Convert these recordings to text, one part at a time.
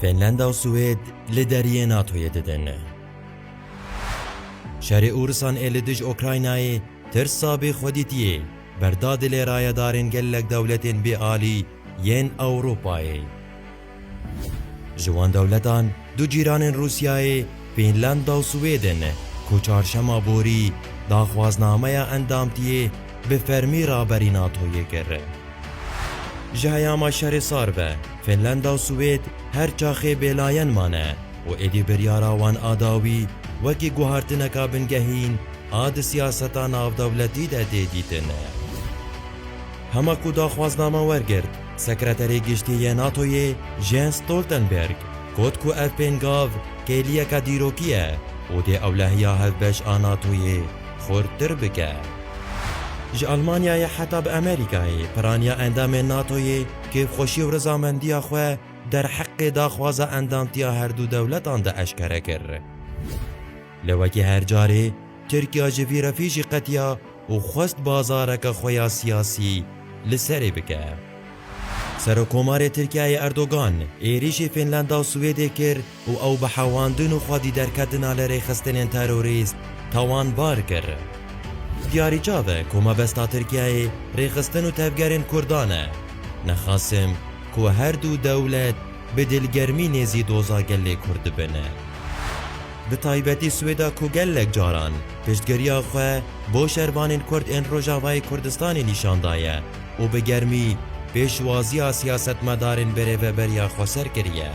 Fînlanda û Swêd li deriyê NATOyê didin. Şerê Ûrisan ê li dij Okraynayê tirsa bê xwedîtiyê berda dilê rayedarên gelek dewletên bêalî yên Ewropayê. Ji wan dewletan Du cîranên Rûsyayê Fînlanda û Swêdên ku çarşema borî daxwaznameya endamtiyê bi fermî raberî NATO'yê kir. Ji heyama şerê sar ve Fînlanda û Swêd her çaxê bêlayen mane û êdî biryara wan a dawî wekî guhartineka bingehîn a di siyaseta navdewletî de tê dîtin. Hema ku daxwazname wergirt, Sekreterê Giştî yê NATO'yê Jens Stoltenberg got ku ev pêngav kêliyeke dîrokî ye û dê ewlehiya hevbeş a NATO'yê xurttir bike. Ji Elmanyayê heta bi Amerîkayê piraniya endamên NATO'yê kêfxweşî û rizamendiya xwe derheqê daxwaza endamtiya herdu dewletan de eşkere kir. Lê wekî her carê, Tirkiya ji vî refî jî qetiya û xwest bazareke xwe ya siyasî li serê bike. Serokkomarê Tirkiyeyê Erdogan êrîşî Fînlanda û Swêdê kir û ew bi hewandin û xwedîderketina li rêxistinên terorîst tawanbar kir. Diyarî çav e ku mebesta Tirkiyeyê rêxistin û tevgerên Kurdan e. Nexasim ku her du dewlet bi dilgermî nêzî doza gelê Kurd bibin. Bi taybetî Swêda ku gelek caran piştgiriya xwe bo şervanên Kurd ên Rojavayê Kurdistanê nîşan daye û bi germî pêşwaziya siyasetmedarên berêveberiya Xweser kiriye.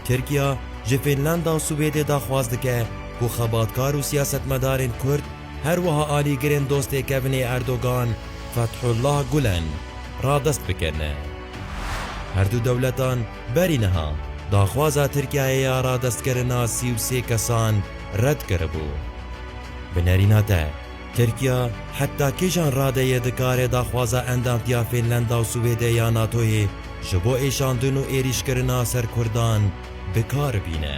Tirkiya ji Fînlanda û Swêdê daxwaz dike ku xebatkar û siyasetmedarên Kurd her wiha alîgirên dostê kevinê Erdogan Fethullah Gulen radest bikin. Herdu dewletan, Berî niha daxwaza Tirkiyeyê ya radestkirina sî û sê kesan red kiribû. Bi nerîna te, Tirkiya heta kîjan rade ye dikare daxwaza endamtiya Fînlanda û Swêdê ya NATO'yê ji bo êşandin û êrîşkirina ser Kurdan bi kar bîne?